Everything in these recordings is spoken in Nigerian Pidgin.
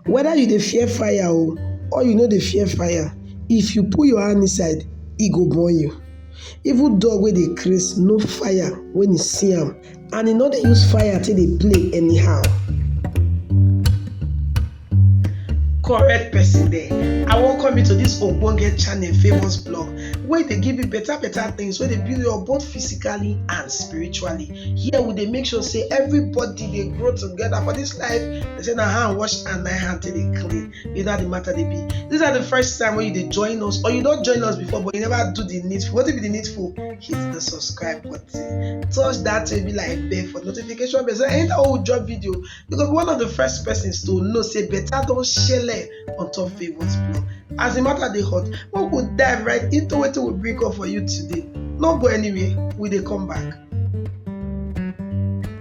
Weda you dey fear fire o or you no dey fear fire, if you put your hand inside e go burn you. Even dog wey dey craze know fire wen e see am and e no dey use fire take dey play anyhow. Correct person there, I welcome you to this ogbonge channel famous blog wey dey give you better better things wey dey build you up both physically and spiritually. Here we dey make sure sey everybody dey grow together for this life. They say na hand wash and na hand take dey clean. You know how the matter dey be. These are the first time when you dey join us or you don join us before but you never do the needful. What be the needful? Hit the subscribe button. Touch that baby like bell for notification bell. So anytime we drop video, you go be one of the first persons to know say better don shele on top Favour's blog. As the matter dey hot, we go dive right into wetin we bring up for you today. No go anywhere, we dey come back.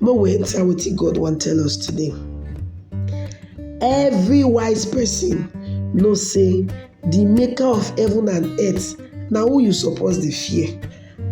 Make we enter wetin God wan tell us today. Every wise person know say the maker of heaven and earth na who you suppose dey fear.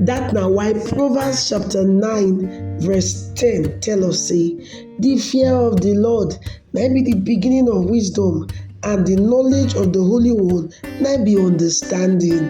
That na why Proverbs chapter nine verse ten tell us say the fear of the Lord na im be the beginning of wisdom and the knowledge of the Holy One na im be understanding.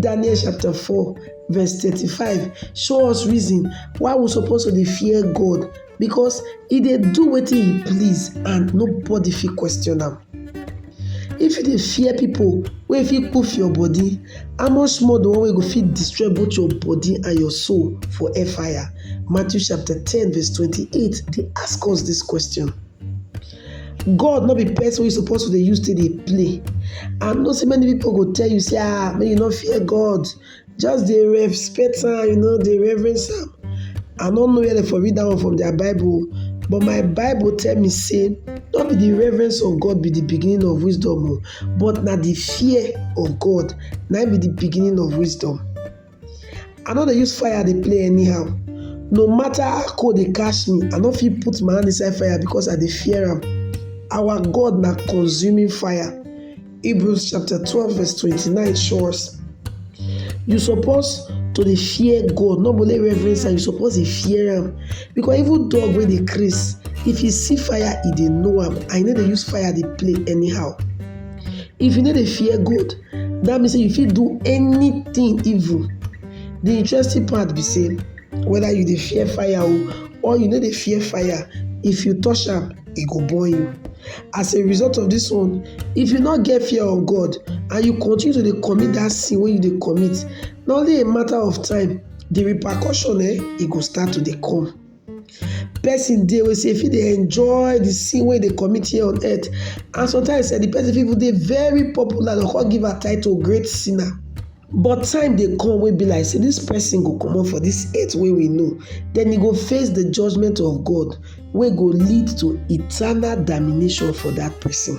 Daniel chapter 4 verse 35 show us reason why we suppose to dey fear God because e dey do wetin he please and nobody fit question am. If you dey fear people wey fit poof your body, how much more the one wey go fit destroy both your body and your soul for hellfire? Matthew chapter 10 verse 28 dey ask us this question. God no be person wey suppose to dey use take dey play. I know say many people go tell you say ah make you no fear God, just dey respect am, you know dey reverence am. I no know where dem for read that one from their Bible but my Bible tell me say no be the reverence of God be the beginning of wisdom o but na the fear of God na be the beginning of wisdom. I no dey use fire dey play anyhow. No matter how cold dey catch me, I no fit put my hand inside fire because I dey fear am. Our God na consuming fire. Hebrews chapter 12 verse 29 show us. You suppose to dey fear God, not only reverence am, you suppose dey fear am. Because even dog wey dey craze, if e see fire, e dey know am and e no dey use fire dey play anyhow. If you no dey fear God, that means say you fit do anything evil. The interesting part be say whether you dey fear fire o or you no dey fear fire, if you touch am, e go burn you. As a result of this one, if you no get fear of God and you continue to dey commit that sin wey you dey commit, na only a matter of time the repercussion eh, e go start to dey come. Person dey wey sey e fit dey enjoy de sin wey e dey commit here on earth and sometimes de person fit even dey very popular dey go come give am title great sinner but time dey come wey be like sey dis person go comot for dis earth wey we know den e go face de judgement of God wey go lead to eternal damnation for dat person.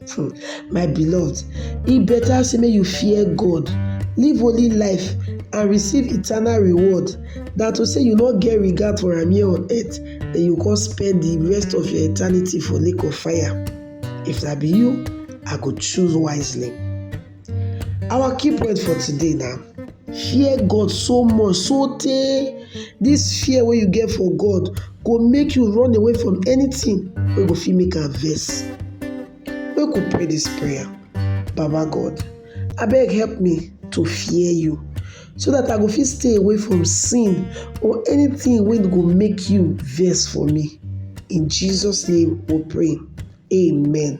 Hmm, my beloved, e better say make you fear God, live holy life, and receive eternal reward than to say you no get regard for am here on earth, then you come spend the rest of your eternity for lake of fire. If na be you, I go choose wisely. Our key point for today na fear God so much so tey dis fear wey you get for God go make you run away from anything wey go fit make am vex. Make we pray dis prayer. Baba God, abeg help me to fear you so dat I go fit stay away from sin or anything wey go make you vex for me. In Jesus name we pray, amen.